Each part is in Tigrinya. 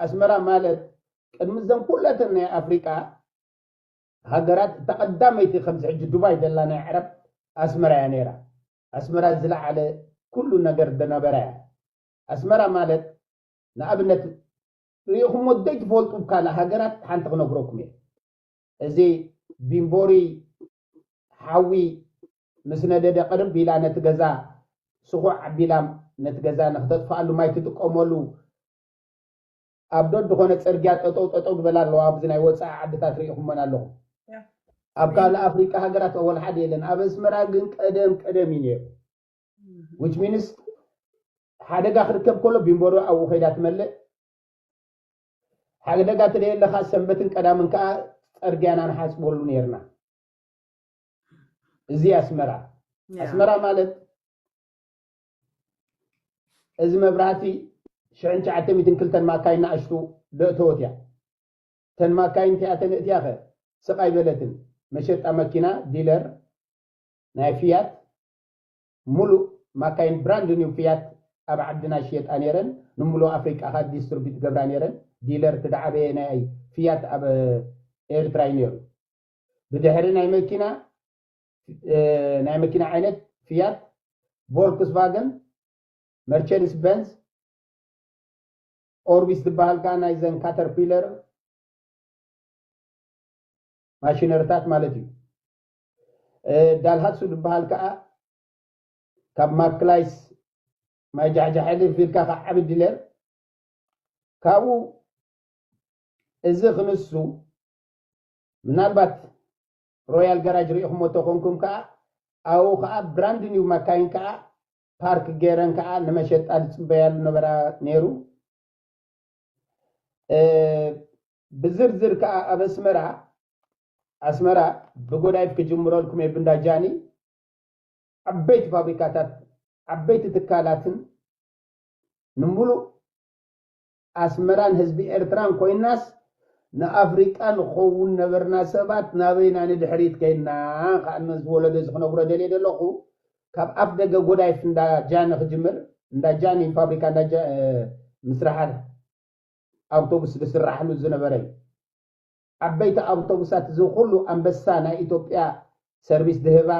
ኣስመራ ማለት ቅድሚ ዘን ኩለተን ናይ ኣፍሪቃ ሃገራት እታ ቀዳመይቲ ከምዚ ሕጂ ዱባይ ዘላ ናይ ዕረብ ኣስመራ እያ ነይራ ኣስመራ ዝለዓለ ኩሉ ነገር ዝነበራ እያ ኣስመራ ማለት ንኣብነት ርኢኹሞ ዘይትፈልጡ ካልእ ሃገራት ሓንቲ ክነግረኩም እየ እዚ ቢምቦሪ ሓዊ ምስ ነደደ ቅርብ ኢላ ነቲ ገዛ ስኹዕ ኣቢላ ነቲ ገዛ ንክተጥፍኣሉ ማይ ትጥቀመሉ ኣብ ደድኾነ ፅርግያ ጠጠው ጠጠው ዝበላ ኣለዋ ኣብዚ ናይ ወፃኢ ዓድታት ርኢኹመን ኣለኹም ኣብ ካልእ ኣፍሪቃ ሃገራት ኣወል ሓደ የለን ኣብ ኣስመራ ግን ቀደም ቀደም እዩ ነይሩ ዊች ሚንስ ሓደጋ ክርከብ ከሎ ቢምቦሮ ኣብኡ ከይዳ ትመልእ ሓደጋ ተደየለኻ ሰንበትን ቀዳምን ከኣ ጸርግያና ንሓጽበሉ ኔርና። እዚ ኣስመራ ኣስመራ ማለት እዚ መብራህቲ ሽሕን ትሽዓተ ሚእትን ክልተን ማካይን ንኣሽቱ ደእተወት እያ። እተን ማካይን እቲኣተን እእትያኸ ስቕ ኣይበለትን። መሸጣ መኪና፣ ዲለር፣ ናይ ፍያት፣ ሙሉእ ማካይን ብራንድ ኒው ፍያት ኣብ ዓድና ይሽየጣ ነይረን ንሙሉእ ኣፍሪቃ ከኣ ዲስትርቢት ይገብራ ነይረን ዲለር እቲ ድዓበየ ናይ ፍያት ኣብ ኤርትራ እዩ ነይሩ ብድሕሪ ናይ መኪና ናይ መኪና ዓይነት ፍያት ቮልክስቫገን መርቸድስ በንዝ ኦርቢስ ዝበሃል ከኣ ናይዘን ካተርፒለር ማሽነርታት ማለት እዩ ዳልሃሱ ዝበሃል ከኣ ካብ ማክላይስ ማይ ጃሕጃሕ ሕልፍ ኢልካ ካብ ዓቢ ዲለር ካብኡ እዚ ክንሱ ምናልባት ሮያል ጋራጅ ሪኢኹሞ ተኾንኩም ከኣ ኣብኡ ከኣ ብራንድ ኒው ማካይን ከኣ ፓርክ ገይረን ከኣ ንመሸጣ ዝፅበያሉ ነበራ ነይሩ ብዝርዝር ከኣ ኣብ ኣስመራ ኣስመራ ብጎዳይፍ ክጅምረልኩም እየ ብእንዳ ጃኒ ዓበይቲ ፋብሪካታት ዓበይቲ ትካላትን ንምሉእ ኣስመራን ህዝቢ ኤርትራን ኮይናስ ንኣፍሪቃ ንኸውን ነበርና ሰባት ናበይ ኢና ንድሕሪት ከይድና ከኣ ነዚ ወለዶ እዚ ክነግሮ ደልየ ደለኹ ካብ ኣፍ ደገ ጎዳይፍ እንዳ ጃኒ ክጅምር እንዳ ጃኒ ፋብሪካ እንዳ ምስራሓ ኣውቶቡስ ዝስራሕሉ ዝነበረ እዩ። ዓበይቲ ኣውቶቡሳት እዚ ኹሉ ኣንበሳ ናይ ኢትዮጵያ ሰርቪስ ዝህባ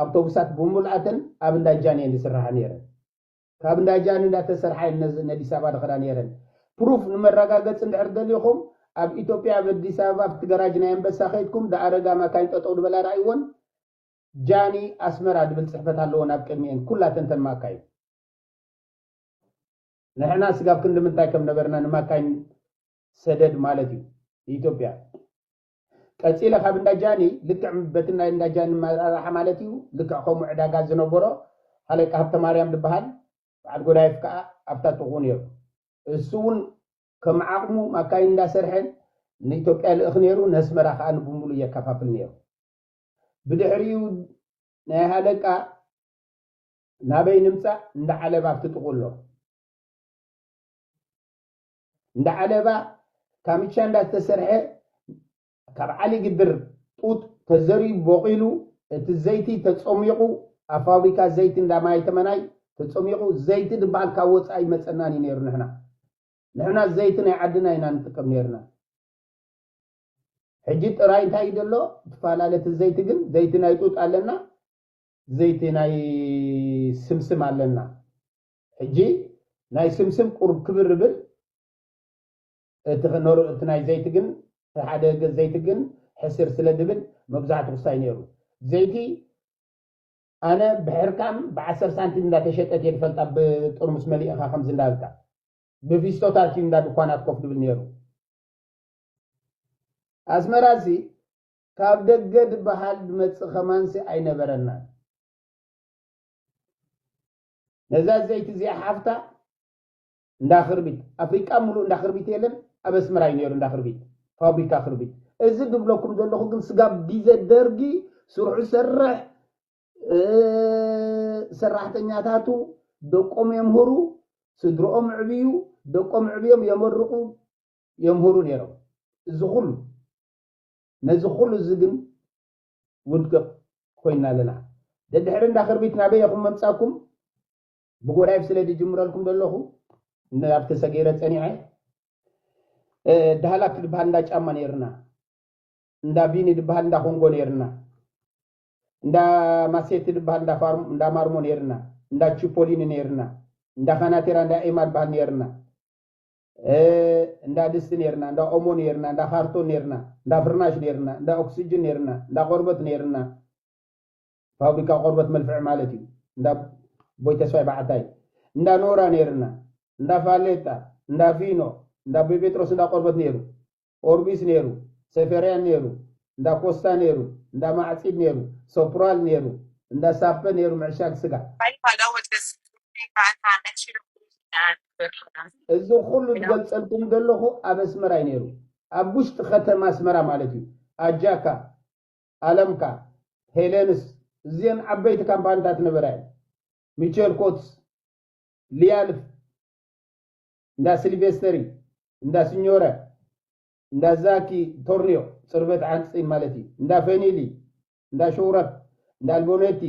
ኣውቶቡሳት ብሙሉኣተን ኣብ እንዳ ጃን እየን ዝስራሓ ነይረን። ካብ እንዳ ጃን እንዳተሰርሓ እየን ነዚ ነዲስ ኣበባ ዝኸዳ ነይረን። ፕሩፍ ንመረጋገፂ እንድሕር ደሊኹም ኣብ ኢትዮጵያ ኣብ ኣዲስ ኣበባ ኣብቲ ገራጅ ናይ ኣንበሳ ከይድኩም ዝኣረጋ ማካይን ጠጠው ዝበላ ርኣይወን ጃኒ ኣስመራ ዝብል ፅሕፈት ኣለወን ኣብ ቅድሚኤን ኩላተን እተን ማካይን። ንሕና ስጋብ ክንዲ ምንታይ ከም ነበርና ንማካኝ ሰደድ ማለት እዩ ንኢትዮጵያ ቀጺለ ካብ እንዳ ጃኒ ልክዕ በቲ ናይ እንዳ ጃኒ ኣመራርሓ ማለት እዩ ልክዕ ከምኡ ዕዳጋ ዝነበሮ ሃለቃ ሃብተማርያም ዝበሃል በዓል ጎዳይፍ ከኣ ኣብታ ጥቕኡ ነይሩ እሱ እውን ከም ዓቕሙ ማካይን እንዳሰርሐ ንኢትዮጵያ ልእኽ ነይሩ ነስመራ ከኣ ንብምሉ የከፋፍል ነይሩ ብድሕሪኡ ናይ ሃለቃ ናበይ ንምጻእ እንዳ ዓለባ ኣብቲ ጥቁኡ ኣሎ እንዳ ዓለባ ካምቻ እንዳ ዝተሰርሐ ካብ ዓሊ ግድር ጡጥ ተዘሪኡ ቦቂሉ እቲ ዘይቲ ተጸሚቁ ኣብ ፋብሪካ ዘይቲ እንዳ ማይ ተመናይ ተጸሚቁ ዘይቲ ድበሃል ካብ ወጻኢ ይመጸናን እዩ ነይሩ ንሕና ንሕና ዘይቲ ናይ ዓድና ኢና ንጥቀም ነይርና ሕጂ ጥራይ እንታይ እዩ ዘሎ ትፈላለቲ ዘይቲ ግን ዘይቲ ናይ ጡጥ ኣለና ዘይቲ ናይ ስምስም ኣለና ሕጂ ናይ ስምስም ቁሩብ ክብር ይብል እቲ ናይ ዘይቲ ግን እቲ ሓደ ዘይቲ ግን ሕስር ስለ ዝብል መብዛሕቱ ክሳይ ነይሩ ዘይቲ ኣነ ብሕርካም ብዓሰር ሳንቲም እንዳተሸጠት እየ ዝፈልጣ ብጥርሙስ መሊእኻ ከምዚ እንዳበልካ ብፊስቶታት እዩ እንዳ ድኳናት ኮፍ ድብል ነይሩ ኣስመራ እዚ ካብ ደገ ድበሃል ድመጽእ ከማንሲ ኣይነበረናን። ነዛ ዘይቲ እዚኣ ሓፍታ እንዳ ክርቢት ኣፍሪቃ ምሉእ እንዳ ክርቢት የለን ኣብ ኣስመራ እዩ ነይሩ እንዳ ክርቢት ፋብሪካ ክርቢት እዚ ድብለኩም ዘለኹ ግን ስጋብ ግዜ ደርጊ ስርሑ ሰርሕ ሰራሕተኛታቱ ደቆም የምህሩ ስድሮኦም ዕብዩ ደቆም ዕብዮም የመርቑ የምህሩ ነይሮም እዚ ኩሉ ነዚ ኩሉ እዚ ግን ውድቅቅ ኮይና ኣለና ደድሕሪ እንዳ ክርቢት ናበይ ኢኩም መምጻኩም ብጎራይፍ ስለ ድጅምረልኩም ደለኩ ንኣብቲ ተሰጊረ ጸኒዐ ዳህላክ ድበሃል እንዳ ጫማ ነይርና እንዳ ቢኒ ድበሃል እንዳ ኮንጎ ነይርና እንዳ ማሴቲ ድበሃል እንዳ ማርሞ ነይርና እንዳ ቺፖሊኒ ነይርና እንዳ ካናቴራ እንዳ ኤማ ድበሃል ነይርና እንዳ ድስቲ ነይርና፣ እንዳ ኦሞ ነይርና፣ እንዳ ካርቶን ነይርና፣ እንዳ ፍርናሽ ነይርና፣ እንዳ ኦክስጅን ነይርና፣ እንዳ ቆርበት ነይርና፣ ፋብሪካ ቆርበት መልፍዒ ማለት እዩ፣ እንዳ ኣቦይ ተስፋይ በዓታይ፣ እንዳ ኖራ ነይርና፣ እንዳ ፋሌጣ፣ እንዳ ፊኖ፣ እንዳ ኣቦይ ጴጥሮስ እንዳ ቆርበት ነይሩ፣ ኦርቢስ ነይሩ፣ ሴፌርያን ነይሩ፣ እንዳ ኮስታ ነይሩ፣ እንዳ ማዕጺድ ነይሩ፣ ሶፕራል ነይሩ፣ እንዳ ሳፐ ነይሩ ምዕሻግ ስጋ። እዚ ኩሉ ዝገልጸልኩም ዘለኹ ኣብ ኣስመራ እዩ ነይሩ። ኣብ ውሽጢ ከተማ ኣስመራ ማለት እዩ። ኣጃካ፣ ኣለምካ፣ ሄለንስ እዚኤን ዓበይቲ ካምፓኒታት ነበራ እየን። ሚቸል ኮትስ፣ ሊያልፍ፣ እንዳ ሲሊቬስተሪ፣ እንዳ ሲኞረ፣ እንዳ ዛኪ ቶርኒዮ፣ ጽርበት ዓንጽጺን ማለት እዩ፣ እንዳ ፌኒሊ፣ እንዳ ሾውረፕ፣ እንዳ ኣልቦነቲ፣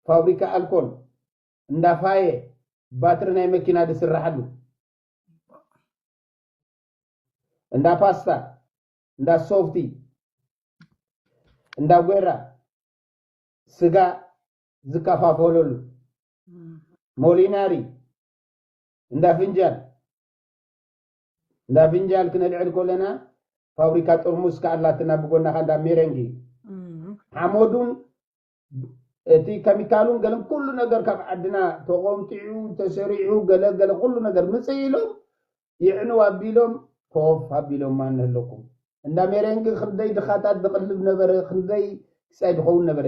ፋብሪካ ኣልኮል፣ እንዳ ፋየ፣ ባትሪ ናይ መኪና ዝስራሓሉ፣ እንዳ ፓስታ፣ እንዳ ሶፍቲ፣ እንዳ ጐራ፣ ስጋ ዝከፋፈለሉ፣ ሞሊናሪ፣ እንዳ ፍንጃል እንዳ ፍንጃል ክነልዕል ኮለና ፋብሪካ ጥርሙስ ከ ኣላትና ብጎና ከ እንዳ ሜረንጊ ሓመዱን እቲ ከሚካሉን ገለን ኩሉ ነገር ካብ ዓድና ተቆምጢዑ ተሰሪዑ ገለ ገለ ኩሉ ነገር ምፅእ ኢሎም ይዕንው ኣቢሎም ኮፍ ኣቢሎማ ንህለኩም እንዳ ሜሬንጊ ክንደይ ድኻታት ዝቕልብ ነበረ ክንደይ ክሳይ ድኸውን ነበረ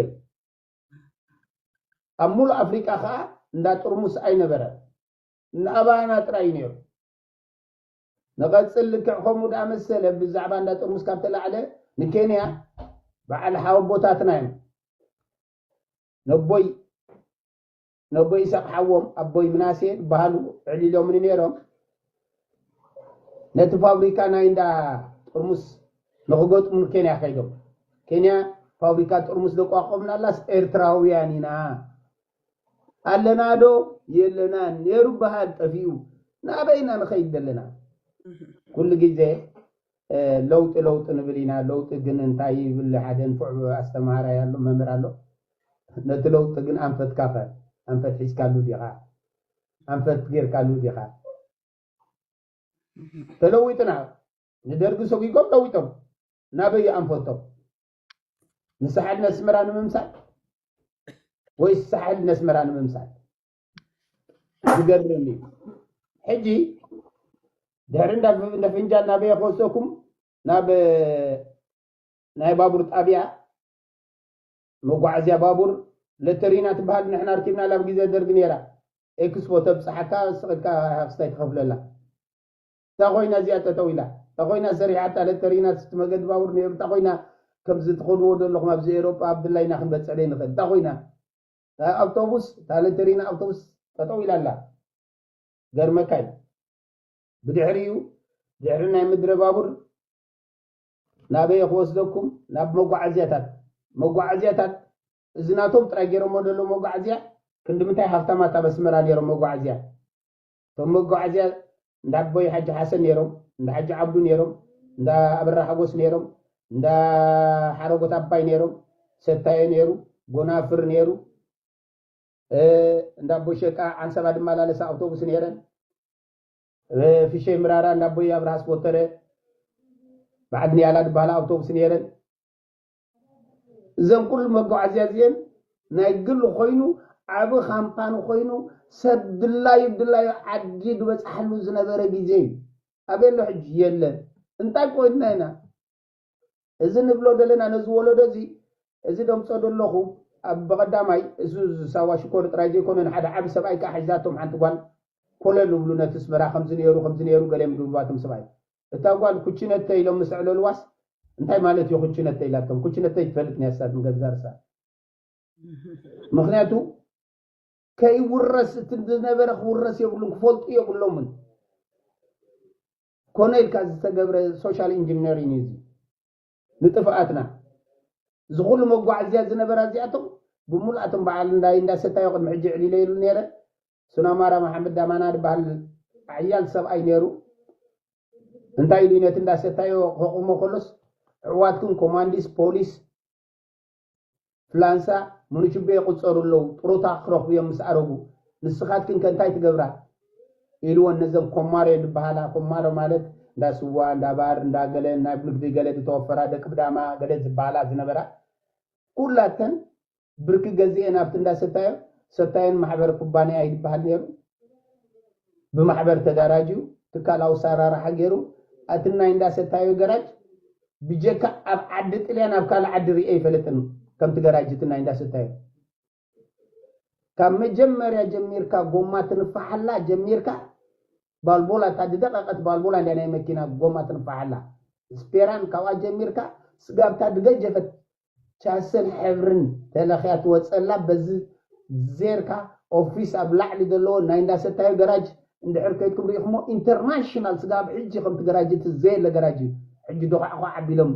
ኣብ ሙሉእ ኣፍሪቃ ከኣ እንዳ ጥርሙስ ኣይነበረን እንዳ ኣባና ጥራይ እዩ ነይሩ። ንቐጽል ልክዕ ከምኡ ደኣ መሰለ ብዛዕባ እንዳ ጥርሙስ ካብ ተላዕለ ንኬንያ በዓል ሓወቦታትና እዮም ነቦይ ነቦይ ኢሳቕ ሓዎም ኣቦይ ምናሴ ዝበሃሉ ኣዕሊሎምኒ ነይሮም። ነቲ ፋብሪካ ናይ እንዳ ጥርሙስ ንኽገጥሙ ንኬንያ ከይዶም። ኬንያ ፋብሪካ ጥርሙስ ዘቋቋምናላስ ኤርትራውያን ኢና ኣለናዶ የለናን ነይሩ በሃል ጠፊኡ ናበይ ኢና ንኸይድ ዘለና? ኩሉ ግዜ ለውጢ ለውጢ ንብል ኢና ለውጢ ግን እንታይ ይብል ሓደ ንፉዕ ኣስተምሃራይ ኣሎ መምህር ኣሎ ነቲ ለውጢ ግን ኣንፈትካ ከ ኣንፈት ሒዝካሉ ዲኻ ኣንፈት ጌርካሉ ዲኻ ተለዊጥና ንደርጊ ሰጒጎም ለዊጦም ናበይ እዩ ኣንፈቶም ንሳሕል ነስመራ ንምምሳል ወይስ ሳሕል ነስመራ ንምምሳል ዝገርም እዩ ሕጂ ድሕሪ እንዳ ፍንጃ እናበየ ክወስደኩም ናብ ናይ ባቡር ጣብያ መጓዓዝያ ባቡር ለተሪና ትበሃል ንሕና ርኪብና ላብ ግዜ ደርግ ነይራ ኤክስፖ ተብፅሓካ ስቕድካ ሃፍስታይ ትኸፍለላ እታ ኮይና እዚኣ ጠጠው ኢላ እታ ኮይና ሰሪሓታ ለተሪና ስቲ መገዲ ባቡር ነይሩ እታ ኮይና ከምዚ ትኸድዎ ዘለኹም ኣብዚ ኤሮጳ ብላይና ክንበፅዕ ዘይንኽእል እታ ኮይና እታ ኣብቶቡስ እታ ለተሪና ኣብቶቡስ ጠጠው ኢላ ኣላ ገርመካ እዩ ብድሕሪኡ ድሕሪ ናይ ምድረ ባቡር ናበየ ክወስደኩም ናብ መጓዓዝያታት መጓዓዝያታት እዚ ናቶም ጥራይ ገይሮሞ ደሎ መጓዓዝያ ክንዲ ምንታይ ሃፍታማት ኣብ ኣስመራ ነይሮም መጓዓዝያ እቶም መጓዓዝያ እንዳ ኣቦይ ሓጂ ሓሰን ነይሮም፣ እንዳ ሓጂ ዓብዱ ነይሮም፣ እንዳ ኣበራ ሓጎስ ነይሮም፣ እንዳ ሓረጎት ኣባይ ነይሮም፣ ሰታዮ ነይሩ፣ ጎናፍር ነይሩ፣ እንዳ ኣቦይ ሸቃ ዓንሰባ ድመላለሳ ኣውቶቡስ ነይረን፣ ፍሸይ ምራራ እንዳ ኣቦይ ኣብርሃ ኣስቦተረ በዓል ንያላ ድበሃላ ኣውቶቡስ ነይረን፣ እዘን ኩሉ መጓዓዝያ እዚኤን ናይ ግል ኮይኑ ዓቢ ካምፓኒ ኮይኑ ሰብ ድላዩ ብድላዩ ዓዲ ዝበጽሓሉ ዝነበረ ግዜ እዩ። ኣበይ ኣሎ ሕጂ? የለን። እንታይ ኮይንና ኢና እዚ ንብሎ ዘለና ነዚ ወለዶ እዚ እዚ ደምጾ ደለኹ ኣብ ብቐዳማይ እዚ ሳዋ ሽኮር ጥራይ ዘይኮነ ንሓደ ዓቢ ሰብኣይ ከኣ ሒዛቶም ሓንቲ ጓል ኮለል እብሉ ነቲ ኣስመራ ከምዚ ነይሩ ከምዚ ነይሩ ገለ ምድብልባቶም ሰብኣይ እታ ጓል ኩችነተይ ኢሎም ምስ ኣዕለሉዋስ እንታይ ማለት ኢዩ ኩችነተይ ኢላቶም ኩችነተይ ትፈልጥ ኒያሳ ንገዛ ርሳ ምክንያቱ ከይውረስ እቲ ዝነበረ ክውረስ የብሉን ክፈልጡ የብሎምን ኮነ ኢልካ ዝተገብረ ሶሻል ኢንጂነሪን እዩ ንጥፍኣትና እዚ ኩሉ መጓዓዝያ ዝነበራ እዚኣቶም ብምሉኣቶም በዓል እንዳይ እንዳሰታዮ ቅድሚ ሕጂ ዕሊለይሉ ነይረ ሱናማራ መሓመድ ዳማና ድበሃል ሓያል ሰብኣይ ነይሩ። እንታይ ኢሉ እዩ ነቲ እንዳ ሰታዮ ከቑሞ ከሎስ ኣሕዋትኩም ኮማንዲስ፣ ፖሊስ፣ ፍላንሳ፣ ሙኑቹቤ ይቑጸሩ ኣለዉ፣ ጥሮታ ክረኽቡ እዮም ምስ ኣረጉ፣ ንስኻትክን ከ እንታይ ትገብራ? ኢልወን ነዘን ኮማሮ ድበሃላ፣ ኮማሮ ማለት እንዳ ስዋ፣ እንዳ ባር፣ እንዳ ገለን ናብ ንግዲ ገለ ዝተወፈራ ደቂ ብዳማ ገለ ዝበሃላ ዝነበራ ኩላተን ብርኪ ገዚኤ ናብቲ እንዳ ሰታዮ ሰታዮን ማሕበር ኩባንያ እዩ ዝበሃል ነይሩ ብማሕበር ተዳራጅዩ ትካላዊ ኣሳራርሓ ገይሩ ኣቲ ናይ እንዳ ሰታዮ ገራጅ ብጀካ ኣብ ዓዲ ጥልያን ኣብ ካልእ ዓዲ ሪኤ ኣይፈለጥን ከምቲ ገራጅ እቲ ናይ እንዳ ሰታዮ ካብ መጀመርያ ጀሚርካ ጎማ ትንፋሓላ ጀሚርካ ባልቦላ እታ ድደቐቐት ባልቦላ እንድያ ናይ መኪና ጎማ ትንፋሓላ ስፔራን ካብኣ ጀሚርካ ስጋብ እታ ድገጀፈት ቻሰን ሕብርን ተለኽያ ትወጸላ በዚ ዜርካ ኦፊስ ኣብ ላዕሊ ዘለዎ ናይ እንዳ ሰታዮ ገራጅ እንድሕር ከይድኩም ሪኢኽሞ ኢንተርናሽናል ስጋ ኣብ ሕጂ ከምቲ ገራጅ እቲ ዘየለ ገራጅ እዩ ሕጂ ዶዃዕዃዕ ኣቢሎም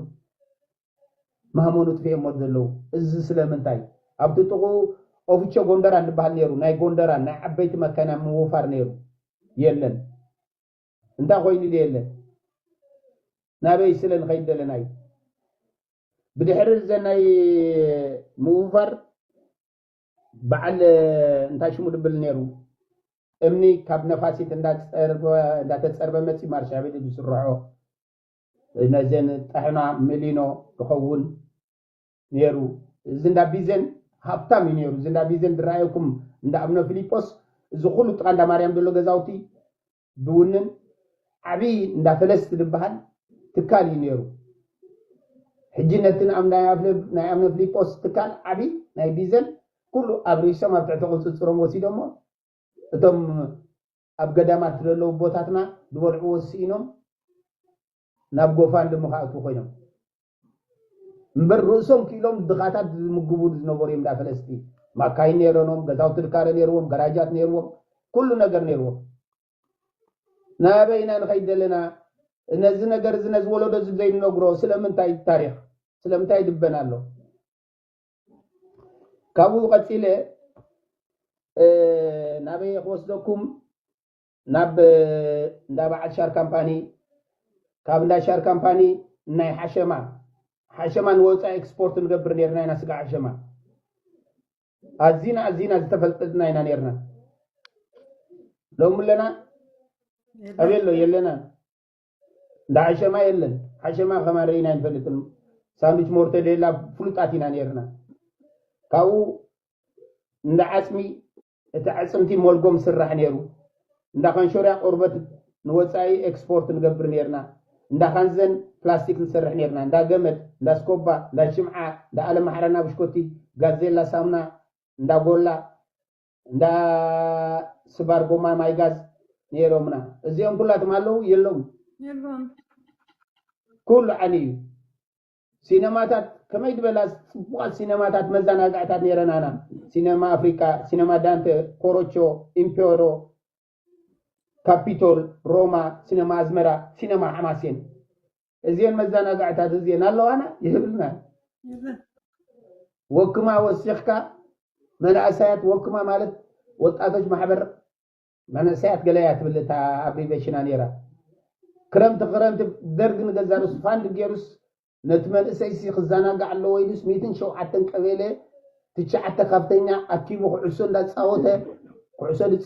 ማህመኑ ጥፊኦሞ ዘለዉ እዚ ስለምንታይ ኣብቲ ጥቑኡ ኦፍቾ ጎንደራን ዝበሃል ነይሩ ናይ ጎንደራን ናይ ዓበይቲ መካይና ምውፋር ነይሩ የለን እንታይ ኮይኑ ዶ የለን ናበይ ስለ ንኸይድ ደለና እዩ ብድሕሪ እዚ ናይ ምውፋር በዓል እንታይ ሽሙ ድብል ነይሩ እምኒ ካብ ነፋሲት እንዳተፀርበ መፂ ማርሻቤሊ ዝስርሖ ነዘን ጥሕና ምሊኖ ድኸውን ነይሩ እዚ እንዳ ቢዘን ሃብታም እዩ ነይሩ እዚ እንዳ ቢዘን ድረኣየኩም እንዳ እምነ ፊሊጶስ እዚ ኩሉ ጥቃ እንዳ ማርያም ዘሎ ገዛውቲ ዝውንን ዓብይ እንዳ ፈለስት ዝበሃል ትካል እዩ ነይሩ። ሕጂ ነቲ ናይ ኣብነ ፍሊጶስ ትካል ዓብይ ናይ ቢዘን ኩሉ ኣብሪሶም ኣብ ትሕቲ ቁፅፅሮም ወሲዶሞ እቶም ኣብ ገዳማት ዘለዉ ቦታትና ዝበልዕዎ ስኢኖም ናብ ጎፋንድሚ ክኣትዉ ኮይኖም። እምበር ርእሶም ክኢሎም ድኻታት ዝምግቡ ዝነበሩ እዮም እንዳ ፈለስቲ ማካይን ነይረኖም ገዛውቲ ድካረ ነይርዎም ገራጃት ነይርዎም ኩሉ ነገር ነይርዎም ናበይና ንኸይድ ዘለና ነዚ ነገር እዚ ነዚ ወለዶ እዚ ዘይንነግሮ ስለምንታይ ታሪክ ስለምንታይ ይድበን ኣሎ ካብኡ ቀፂለ ናበይ ክወስደኩም ናብ እንዳ በዓል ሻር ካምፓኒ፣ ካብ እንዳ ሻር ካምፓኒ ንናይ ሓሸማ፣ ሓሸማ ንወፃኢ ኤክስፖርት ንገብር ነይርና ኢና ስጋ ሓሸማ። ኣዚና ኣዚና ዝተፈልጥጥና ኢና ነይርና። ሎሚ ኣለና ኣበይ ኣሎ የለናን። እንዳ ሓሸማ የለን። ሓሸማ ከማን ርኢና ኣይንፈልጥን። ሳንዱች ሞርተዴላ ፍሉጣት ኢና ነይርና። ካብኡ እንዳ ዓፅሚ እቲ ኣዕፅምቲ ሞልጎም ስራሕ ነይሩ። እንዳ ካንሾርያ ቆርበት ንወፃኢ ኤክስፖርት ንገብር ነይርና። እንዳ ካንዘን ፕላስቲክ ንሰርሕ ነይርና። እንዳ ገመድ፣ እንዳ ስኮባ፣ እንዳ ሽምዓ፣ እንዳ ኣለማሕራና ብሽኮቲ፣ ጋዜላ ሳሙና፣ እንዳ ጎላ፣ እንዳ ስባር ጎማ ማይ ጋዝ ነይሮምና። እዚኦም ኩላቶም ኣለዉ? የለዉን። ኩሉ ዓንዩ እዩ። ሲነማታት ከመይ ድበላ ጽቡቓት ሲነማታት መዛናግዕታት ነይረን ኣና ሲነማ ኣፍሪቃ ሲነማ ዳንተ ኮሮቾ ኢምፔሮ ካፒቶል ሮማ ሲነማ ኣዝመራ ሲነማ ሓማሴን እዚን መዛናግዕታት እዚን ኣለዋና ይህብልና ወክማ ወሲኽካ መናእሰያት ወክማ ማለት ወጣቶች ማሕበር መንእሰያት ገለ እያ ትብል እታ ኣብሪቬሽና ኔራ ክረምቲ ክረምቲ ደርግ ንገዛ ርእሱ ፋንድ ጌሩስ ነቲ መንእሰይሲ ክዘናጋዕ ኣለዎ ኢሉስ ሚትን ሸውዓተን ቀቤለ ትሽዓተ ካብተኛ ኣኪቡ ኩዕሶ እንዳጻወተ ኩዕሶ ድጻ